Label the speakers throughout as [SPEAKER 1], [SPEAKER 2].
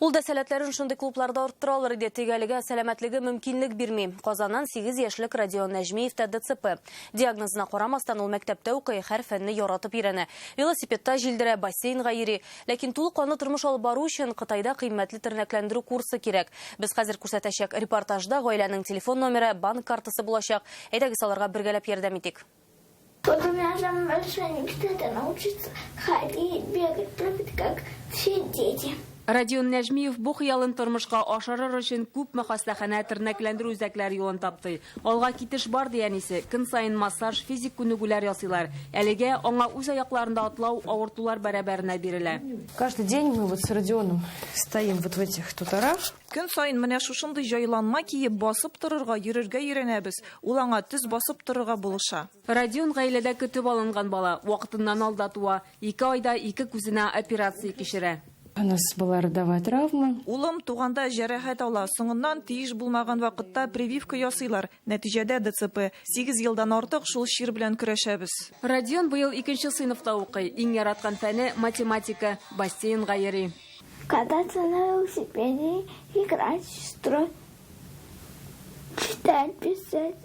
[SPEAKER 1] Ул да сәләтләрен шундый клубларда арттыра алыр иде, тик әлегә сәламәтлеге мөмкинлек бирми. Казаннан сигез яшьлек Родион Нәҗмиев тә ДЦП. Диагнозына карамастан, ул мәктәптә укый, һәр фәнне яратып өйрәнә. Велосипедта җилдерә, бассейнга йөри. Ләкин тулы канлы тормыш алып бару өчен Кытайда кыйммәтле тернәкләндерү курсы кирәк. Без хәзер күрсәтәчәк репортажда гаиләнең телефон номеры, банк картасы булачак. Әйдәгез, аларга бергәләп ярдәм итик. Потом я
[SPEAKER 2] уже большой не кстати научиться ходить, бегать, прыгать, как все дети. Родион Нәжмиев
[SPEAKER 1] бу хыялын тормышка ашырыр өчен күпме хастаханә тернәкләндерү үзәкләре юлын тапты. Алга китеш бар диянисе, көн саен массаж, физик күнегүләр ясыйлар. Әлегә аңа үз аякларында атлау авыртулар бәрабәренә бирелә. Каждый день мы
[SPEAKER 3] вот с Родионом стоим вот в этих туторах. Көн саен менә
[SPEAKER 4] шушындый җайланма киеп, басып торырга, йөрергә өйрәнәбез. Ул аңа төз басып торырга булыша. Родион гаиләдә
[SPEAKER 1] көтеп алынган бала, вакытыннан алда туа, ике айда ике күзенә операция кичерә. У нас была
[SPEAKER 3] родовая травма. Улым туганда
[SPEAKER 4] җәрәхәт ала, соңыннан тиеш булмаган вакытта прививка ясыйлар, нәтиҗәдә ДЦП. Сигез елдан артык шул чир белән көрәшәбез. Родион быел
[SPEAKER 1] икенче сыйныфта укый, иң яраткан фәне, математика, бассейнга йөри. Кататься на
[SPEAKER 2] велосипеде, играть, строй, читать, писать.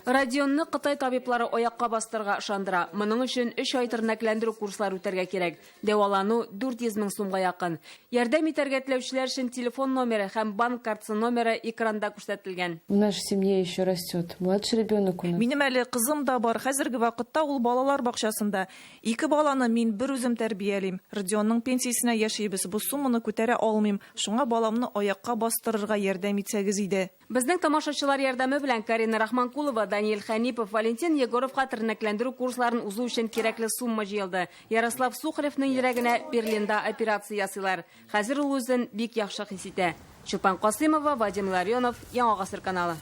[SPEAKER 2] Родионны
[SPEAKER 1] Кытай табиблары аякка бастырырга ышандыра. Моның өчен 3 ай тернәкләндерү курслары үтәргә кирәк. Дәвалану 400 мең сумга якын. Ярдәм итәргә теләүчеләр өчен телефон номеры һәм банк картасы номеры экранда күрсәтелгән. В нашей семье
[SPEAKER 3] еще растет младший ребенок у нас. Минем әле кызым да
[SPEAKER 4] бар. Хәзерге вакытта ул балалар бакчасында. Ике баланы мин бер үзем тәрбиялим. Родионның пенсиясенә яшибез, бу сумманы күтәрә алмыйм, шуңа баламны аякка бастырырга ярдәм итсәгез иде. Безнең тамашачылар
[SPEAKER 1] ярдәме белән Карина Рахманкулова, Даниил Хәнипов, Валентин Егоровка тернәкләндерү курсларын узу өчен кирәкле сумма җыелды. Ярослав Сухаревның йөрәгенә Берлинда операция ясыйлар. Хәзер ул үзен бик яхшы хис итә. Чулпан Касыймова, Вадим Ларионов, Яңа гасыр каналы.